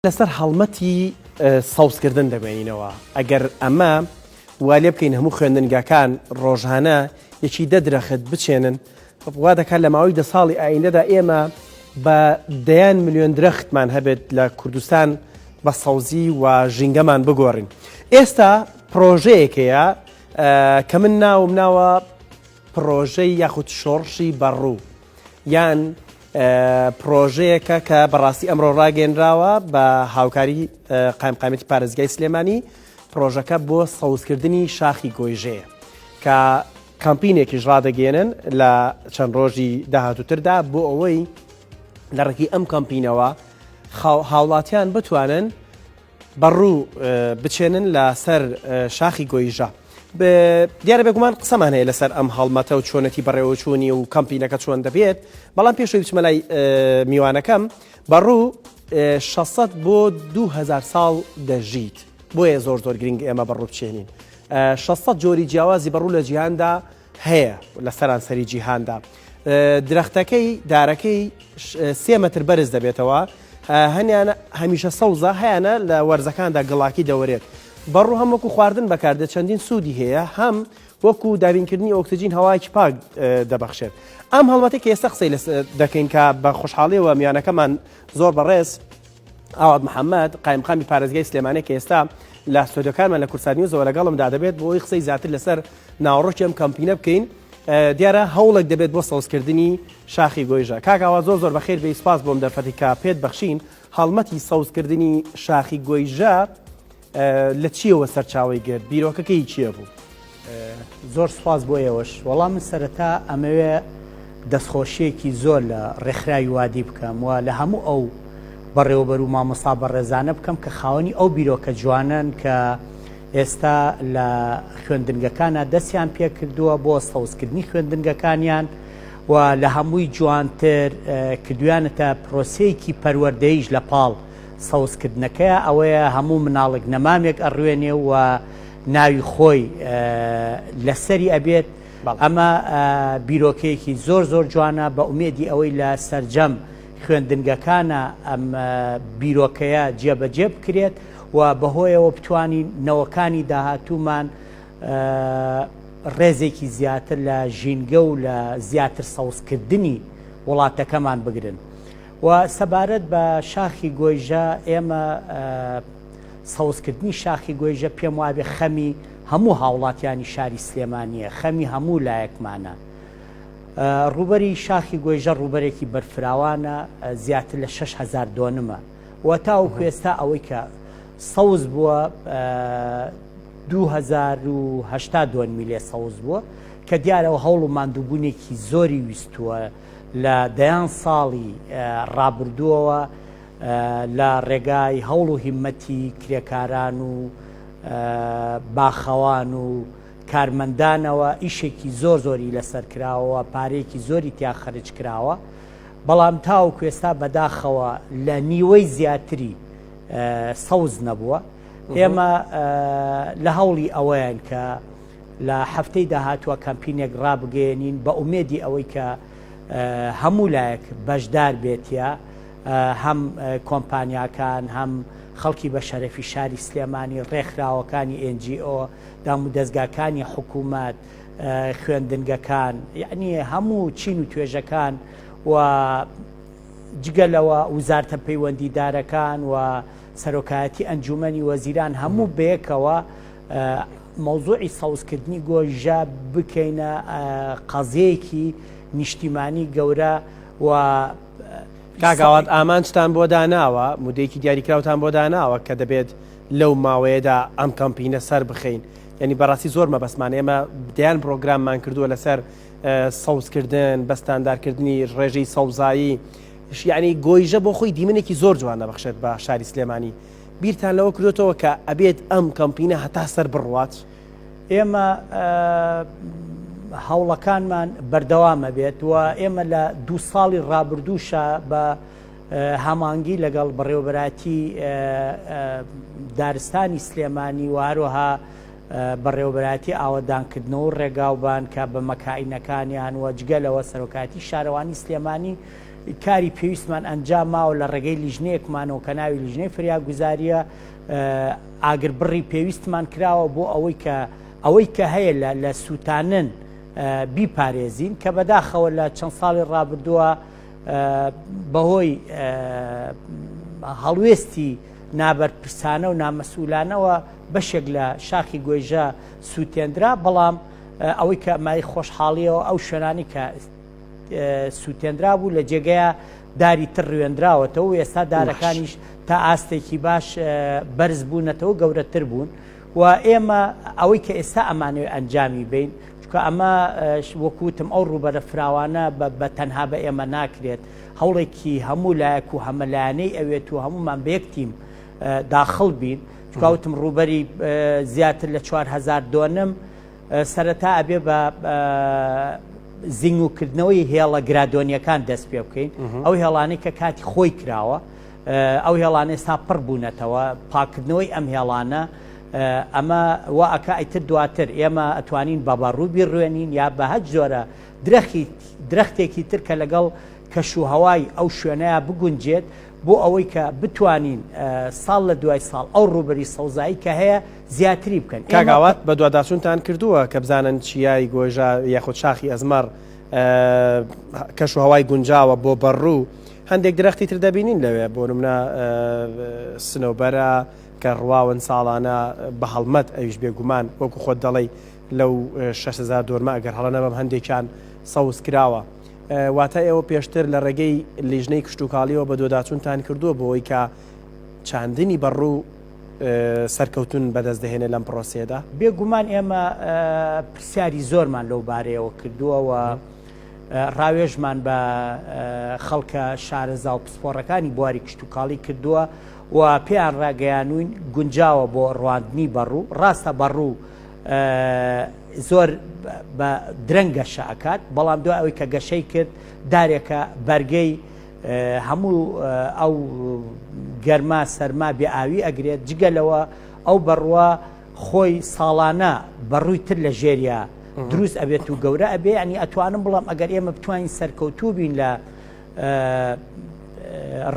لەسەر هەڵمەتی سەوزکردن دەمێنینەوە ئەگەر ئەمە وا لێ بکەین هەموو خوێندنگاکان ڕۆژانە یەکی دە درەخت بچێنن وا دەکات لە ماوەی دە ساڵی ئایندەدا ئێمە بە دەیان میلیۆن درەختمان هەبێت لە کوردستان بە سەوزی و ژینگەمان بگۆڕین ئێستا پرۆژەیەکەیە کە من ناوم ناوە پرۆژەی یاخود شۆڕشی بەڕوو یان پرۆژەیەکە کە بەڕاستی ئەمڕۆ ڕاگەێنراوە بە هاوکاری قایمقامەتی پارێزگای سلێمانی پرۆژەکە بۆ سەوزکردنی شاخی گۆیژەیە کە کامپینێکیش ڕادەگەێنن لە چەند ڕۆژی داهاتوتردا بۆ ئەوەی لە ڕێکی ئەم کامپینەوە هاوڵاتیان بتوانن بەڕوو بچێنن لە سەر شاخی گۆیژە. دیارە بێگومان قسەمان هەیە لەسەر ئەم هەڵمەتە و چۆنەتی بەڕێوەچوونی و کەمپینەکە چۆن دەبێت بەڵام پێشەوی بچمە لای میوانەکەم بەڕوو 600 بۆ 2000 ساڵ دەژیت بۆیە زۆر زۆر گرنگ ئێمە بەڕوو بچێنین 600 جۆری جیاوازی بەڕوو لە جیهاندا هەیە لە سەرانسەری جیهاندا درەختەکەی دارەکەی سێ مەتر بەرز دەبێتەوە هەنیانە هەمیشە سەوزە هەیەە لە وەرزەکاندا گڵاکی دەوەرێت بەڕوو هەم وەکو خواردن بەکاردێت چەندین سوودی هەیە هەم وەکو دابینکردنی ئۆکسسیجین هەواکی پاک دەبەخشێت ئەم هەڵبەتی کە ئێستا قسەی لە دەکەین کە بە خۆشحاڵیەوە میانەکەمان زۆر بەڕێز ئاوات محەمەد، قایمقامی پارێزگای سلێمانی کە ئێستا لە ستۆدیۆکانمان لە کوردسات نیوزەوە لەگەڵمدا دەبێت بۆ ئەوی قسەی زیاتر لەسەر ناوەڕۆکی ئەم کەمپینە بکەین دیارە هەوڵێک دەبێت بۆ سەوزکردنی شاخی گۆیژە کاکاوا زۆر زۆر بەخێر بێ سپاس بۆم دەرفەتی کە پێت بەخشین هەڵمەتی سەوزکردنی شاخی گۆیژە لە چیەوە سەرچاوەی گرت؟ بیرۆکەکەی چیە بوو؟ زۆر سپاس بۆ ئێوەش وەڵام من سەرەتا ئەمەوێ دەستخۆشیەکی زۆر لە ڕێکخراوی وادی بکەم و لە هەموو ئەو بەڕێوەبەر و مامۆسا بە ڕێزانە بکەم کە خاوەنی ئەو بیرۆکە جوانن کە ئێستا لە خوێندنگەکانە دەستیان پێکردووە بۆ سەوزکردنی خوێندنگەکانیان و لە هەمووی جوانتر کردویانەتە پرۆسەیەکی پەروەردەیش لە پاڵ سەوز کردنەکەیا ئەوەیە هەموو مناڵێک نەمامێک ئەڕوێنێ و ناوی خۆی لەسەری ئەبێت ئەمە بیرۆکەیەکی زۆر زۆر جوانە بە ئومێدی ئەوەی لە سەرجەم خوێندنگەکانە ئەم بیرۆکەیە جێبەجێ بکرێت و بەهۆیەوە بتانی نەوەکانی داهاتوومان ڕێزێکی زیاتر لە ژینگە و لە زیاتر سەوزکردنی وڵاتەکەمان بگرن. وە سەبارەت بە شاخی گۆیژە ئێمە سەوزکردنی شاخی گۆیژە پێم وابێ خەمی هەموو هاوڵاتیانی شاری سلێمانیە خەمی هەموو لایەکمانە ڕوبەری شاخی گۆیژە ڕوبەرێکی بەرفراوانە زیاتر لە 6هزار دۆنمە و تاو کوێستا ئەوەی کە سەوز بووە 2010 دۆنمی لێ سەوز بووە کە دیارەوە هەوڵ و مادووبوونێکی زۆری ویستووە لە دەیان ساڵی ڕابردووەوە لە ڕێگای هەوڵ و هیمەتی کرێکاران و باخەوان و کارمەندانەوە ئیشێکی زۆر زۆری لەسەر کراوەوە پارێکی زۆری تیا خەرج کراوە بەڵام تاو کوێستا بەداخەوە لە نیوەی زیاتری سەوز نەبووە ئێمە لە هەوڵی ئەوەیان کە لە هەفتەی داهاتوە کەمپینێک ڕابگەیەنین بە ئومێدی ئەوەی کە هەموو لایەک بەشدار بێتە هەم کۆمپانیاکان هەم خەڵکی بە شەرەفی شاری سلێمانی ڕێکخراوەکانی NGO دام و دەستگاکانی حکوومەت خوێندنگەکان یعنی هەموو چین و توێژەکان و جگەلەوە وزارتە پەیوەندیدارەکان و سەرۆکایەتی ئەنجومنی وەزیران هەموو بەیەکەوە مەوزوعی سەوزکردنی گۆیژە بکەینە قەزەیەکی نیشتیمانی گەورە و کاگاوات ئامانجتان بۆ داناوە مدەیەکی دیاریکراوتان بۆ داناوە کە دەبێت لەو ماوەیەدا ئەم کەمپینە سەر بخەین یعنی بەڕاستی زۆر مەبەسمان ئێمە دەیان پرۆگراممان کردووە لەسەر سەوزکردن بەستاندارکردنی ڕێژەی سەوزایی شیعنی گۆیژە بۆ خۆی دیمنێکی زۆر جوان نەبخشێت بە شاری سلێمانی بیرتان لەوە کردۆتەوە کە ئەبێت ئەم کەمپینە هەتا سەر بڕوات؟ ئێمە هەوڵەکانمان بەردەوامە بێت و ئێمە لە دو ساڵی ڕابردووشە بە هەمانگی لەگەڵ بەڕێوبەراتی دارستانی سلێمانی و هەروەها بەڕێوبەراتی ئاوەدانکردنەوە ڕێگاوبان کە بە مەکائینەکانیان وەجگە لەوە سەرۆکاتی شارەوانی سلێمانی کاری پێویستمان ئەنجام ماوە لە ڕێگەی لیژنەیەکمانەوە کە ناوی لیژنەی فریاگوزاریە ئاگر بڕی پێویستمان کراوە بۆ ئەوەی کە ئەوەی کە هەیە لە سووتانن بیپارێزین کە بەداخەوە لە چەند ساڵی ڕابردووە بەهۆی هەڵوێستی نابەرپرسانە و نامەسوولانەوە بەشێک لە شاخی گۆیژە سووتێندرا بەڵام ئەوەی کە مای خۆشحاڵیەوە ئەو شوێنانی کە سووتێنرا بوو لە جێگەیە داری تر ڕوێنراوەتەوە و ئێستا دارەکانیش تا ئاستێکی باش بەرز بوونەتەوە گەورەتر بوون و ئێمە ئەوەی کە ئێستا ئەمانوێ ئەنجامی بین چکە ئەمە وەکوتم ئەو ڕوبەرە فراوانە بە تەنها بە ئێمە ناکرێت هەوڵێکی هەموو لایەک و هەمەلایەنەی ئەوێت و هەمومان بەیەکتیم داخڵ بین چکاوتم ڕوبەری زیاتر لە 4هزار دۆنم سەرەتا ئەبێ بە زیینگوکردنەوەی هێڵە گرادۆنیەکان دەست پێ بکەین ئەو هێڵانەی کە کاتی خۆی کراوە ئەو هێڵانە ئێستا پڕ بوونەتەوە پاکردنەوەی ئەم هێڵانە ئەمە وا ئەکە ئەیتر دواتر ئێمە ئەتوانین بەبە ڕووبی ڕوێنین یا بە هەج زۆرە درەخی درەختێکی تر کە لەگەڵ کەش و هەوای ئەو شوێنەیە بگونجێت بۆ ئەوەی کە بتوانین ساڵ لە دوای ساڵ ئەو ڕوبەری سەوزایی کە هەیە زیاتری بکەن. کاک ئاوات بەدواداچونتان کردووە کە بزانن چیای گۆیژە یاخود شاخی ئەزمەڕ کەش و هەوای گونجاوە بۆ بەڕوو هەندێک درەختی تر دەبینین لەوێ بۆ نمونە سنەوبەرە کە ڕواون ساڵانە بە هەڵمەت ئەویش بێگومان وەکو خۆت دەڵێی لەو 6هزار دۆرمە ئەگەر هەڵە نەبم هەندێکیان سەوز کراوە واتە ئێوە پێشتر لە ڕێگەی لیژنەی کشتتوکاڵیەوە بە دۆداچونتان کردووە بۆەوەی کە چاندنی بەڕوو سەرکەوتن بەدەست دەهێنێت لەم پرۆسەیەدا؟ بێگومان ئێمە پرسیاری زۆرمان لەو بارەیەوە کردووەوە ڕاوێژمان بە خەڵکە شارەزا و پسپۆڕەکانی بواری کشتتوکاڵی کردووە و پێیان ڕاگەیانوین گونجاوە بۆ ڕواندنی بەڕوو ڕاستە بەڕوو زۆر بە درەنگ گەشە ئەکات بەڵام دو ئەوەی کە گەشەی کرد دارێکە بەرگەی هەموو ئەو گەرما سەرما بێ ئاوی ئەگرێت جگە لەوە ئەو بەڕوە خۆی ساڵانە بەڕووی تر لە ژێریا دروست ئەبێت و گەورە ئەبێ ینی ئەتوانم بڵام ئەگەر ئێمە بتوانین سەرکەوتوو بین لە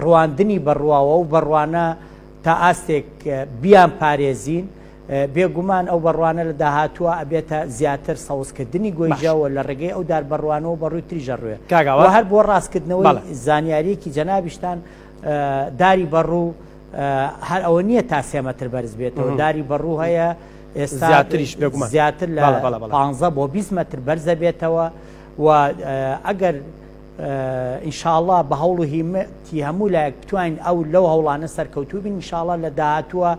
ڕواندنی بەڕواوە و بەڕوانە تا ئاستێک بیان پارێزین بێ گومان ئەو بەڕوانە لە داهاتووە ئەبێتە زیاتر سەوزکردنی گۆیژە و لە ڕێگەی ئەو دار بەڕوانەوە بە ڕووی تریژ ئەڕوێ و هەر بۆ ڕاستکردنەوەی زانیاریەکی جەنابیشتان داری بەڕوو هەر ئەوە نییە تا سێ مەتر بەرز بێتەوە داری بەڕوو هەیە زیاتریش بێگومە زیاتر لە 15 بۆ 20 متر بەرزە بێتەوە و ئەگەر ئینشاءله بە هەوڵ و هیمەتی هەموو لایەک بتوانین ئەو لەو هەوڵانە سەرکەوتوبین انشاءله لە داهاتووە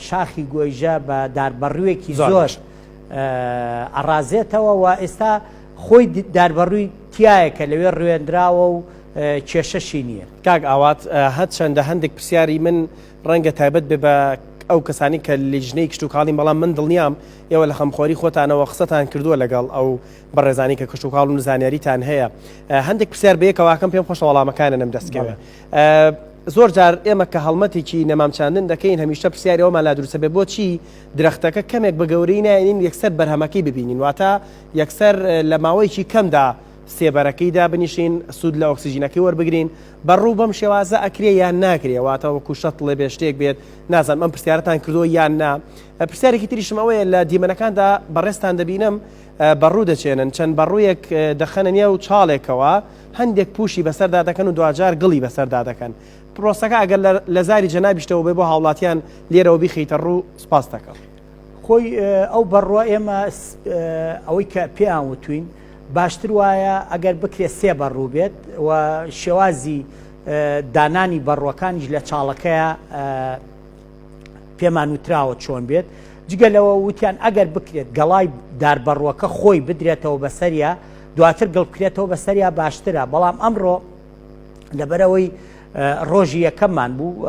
شاخی گۆیژە بە داربەڕوویەکی زۆر ئەڕازێتەوە و ئێستا خۆی داربەڕووی تایە کە لەوێ ڕوێنراوە و کێشەشی نییە کاک ئاوات هەر چەندە هەندێک پرسیاری من ڕەنگە تایبەت بێ بە ئەو کەسانی کە لیژنەی کشتتوکاڵی بەڵام من دڵنیام ئێوە لە خەمخۆری خۆتانەوە قسەتان کردووە لەگەڵ ئەو بەڕێزانی کە کشتتوکاڵ و نزانیاریتان هەیە هەندێک پرسیار بەیەکەواکەم پێم خۆشە وەڵامەکانە نەم دەستکەوێت زۆر جار ئێمە کە هەڵمەتێکی نەمامچاندن دەکەین هەمیشە پرسیاری ئەومان لا دروستە بێ بۆچی درەختەکە کەمێک بە گەورەی نایێنین یەکسەر بەرهەمەکەی ببینین واتە یەکسەر لە ماوەیەکی کەمدا سێبەرەکەیدا بنیشین سوود لە ئۆکسسیژینەکەی وەربگرین بەڕوو بەم شێوازە ئەکرێ یان ناکرێواتە وەکو شەت لێ بێشتێک بێت نازان ئەم پرسیارەتان کردو یان نا پرسیارێکی تریشم ئەوەیە لە دیمەنەکاندا بەڕێستان دەبینم بەڕوو دەچێنن چەند بەڕوویەک دەخەنە نێو چاڵێکەوە هەندێک پوشی بەسەردا دەکەن و دواجار گڵی بەسەردا دەکەن پرۆسەکە ئەگەر لە زاری جەنابیشتەوە بێ بۆ هاوڵاتیان لێرەوە بیخیتە ڕوو سپاس دەکەم. خۆی ئەو بەڕوە ئێمە ئەوەی کە پێیان وتوین باشتر وایە ئەگەر بکرێت سێ بەڕوو بێت و شێوازی دانانی بەڕوەکانیش لە چاڵەکەیە پێمان وتراوە چۆن بێت جگە لەوە وتیان ئەگەر بکرێت گەڵای داربەڕوەکە خۆی بدرێتەوە بەسەریا دواتر گڵبکرێتەوە بەسەریا باشترە بەڵام ئەمڕۆ لەبەرەوەی ڕۆژی یەکەممان بوو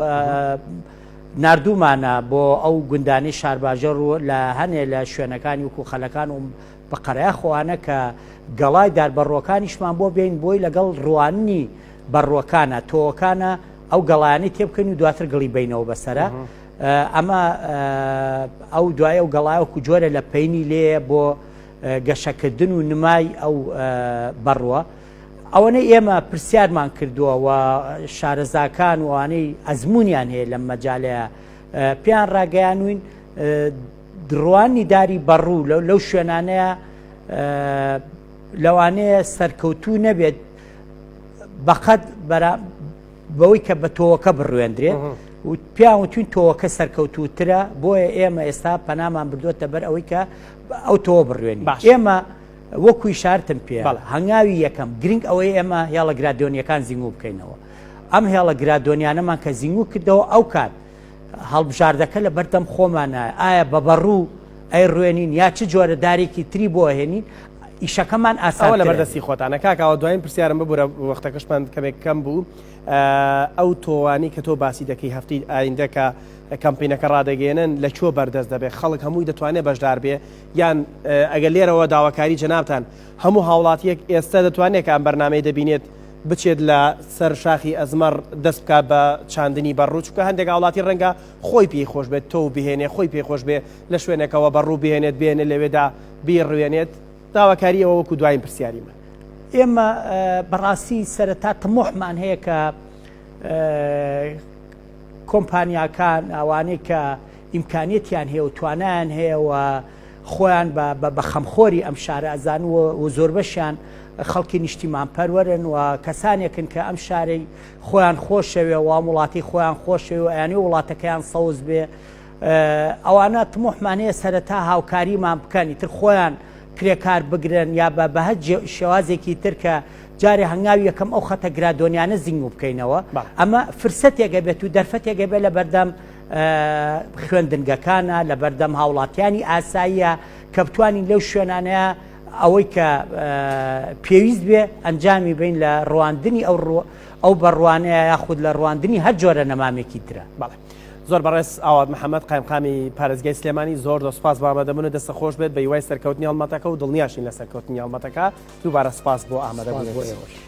نردومانە بۆ ئەو گوندانی شارباژەڕ و لە هەنێ لە شوێنەکانی وکو خەلەکان و بە قەرای خۆانە کە گەڵای دار بەڕووەکانیشمان بۆ بێین بۆی لەگەڵ ڕواننی بەڕووەکانە تۆوەکانە ئەو گەڵانی تێ بکەین و دواتر گڵی بینەوە بەسرە ئەمە ئەو دوایە و گەڵایەکو جۆرە لە پینی لێ بۆ گەشەکردن و نمای ئەو بەڕوە ئەوەنەی ئێمە پرسیارمان کردووە و شارەزاکان وانەی ئەزممویان هەیە لەم مەجاالەیە پێیان ڕاگەیانوین دڕوانی داری بەڕوو لەو شوێنانەیە لەوانەیە سەرکەوتوو نەبێت بەقەت بەوەی کە بە تۆوەکە بڕوێندرێت پیان وتوین تۆوەکە سەرکەوتوترە بۆیە ئێمە ئێستا پەنامان بردووەتە بەر ئەوەی کە ئەو تۆوە بڕوێن باش ئێمە وەکوی شارتم پێ هەنگاوی یەکەم گرنگ ئەوەی ئێمە هێڵە گرادۆنیەکان زیینگو بکەینەوە ئەم هێڵە گرادۆنیانەمان کە زیینگو کردەوە ئەو کات هەڵبژاردەکە لە بەردەم خۆمانە ئایا بە بەڕوو ئەی ڕوێنین یا چ جۆرە دارێکی تری بۆ هێنین ئیشەکەمان ئاساوە لە بەردەستی خۆتانە کاکەوە دوایین پرسیارم ببوورە وەختەکەشمان کەمێک کەم بوو ئەو تۆوانی کە تۆ باسی دەکەی هەفتی ئایندەکە کەمپینەکە ڕدەگەێنن لە چۆ بەردەست دەبێت خەڵک هەمووی دەتوانێت بەشدار بێ یان ئەگەر لێرەوە داواکاری جەنابان هەموو هاوڵاتیەک ئێستا دەتوانێت کە ئەم بەرنمەی دەبینێت بچێت لە سەر شاخی ئەزمەڕ دەست بکات بە چاندنی بەڕوو چونکە هەندێک هاوڵاتی ڕەنگە خۆی پێی خۆش بێت تۆو بهێنێ خۆی پێی خۆش بێ لە شوێنەکەەوە بەڕوو بهێنێت بێنێ لەوێدا بیڕوێنێت داواکاری ئەوە وەکو دوایین پرسیاری من ئێمە بەڕاستی سەرەتا تمۆحمان هەیە کە کۆمپانیاکان ئەوانەی کە ئیمکانیتیان هەیە و توانیان هەیەەوە خۆیان بە بە بە خەمخۆری ئەم شارە ئەزان و و زۆربەشیان خەڵکی نیشتیمان پەروەرن و کەسانێکن کە ئەم شارەی خۆیان خۆشەوێ و ئەم وڵاتی خۆیان خۆشەوێ و ئەیانێ وڵاتەکەیان سەوز بێ ئە، ئەوانە طموحمان هەیە سەرەتا هاوکاریمان بکەن ئیتر خۆیان کرێکار بگرن یا بە بە هەر جێ- شێوازێکی تر کە جارێ هەنگاوی یەکەم ئەو خەتە گرادۆنیانە زینگوو بکەینەوە بەڵێ. ئەمە فرسەتێک ئەبێت و دەرفەتێک ئەبێت لە بەردەم خوێندنگەکانە لەبەردەم هاوڵاتیانی ئاساییە کە بتوانین لەو شوێنانەیە ئەوەی کە پێویست بێ ئەنجامی بین لە ڕواندنی ئەو ئەو بەڕوانەیە یاخود لە ڕواندنی هەر جۆرە نەمامێکی ترە بەڵێ. زۆر بەڕێز ئاوات محەممەد قایمقامی پارێزگای سلێمانی زۆر دە سپاس بامەدەبوون و دەستە خۆش بێت بە هیوای سەرکەوتنی هەڵمەتەکە و دڵنیاشین لە سەرکەوتنی هەڵمەتەکە دووبارە سپاس بۆ ئامادەبوون.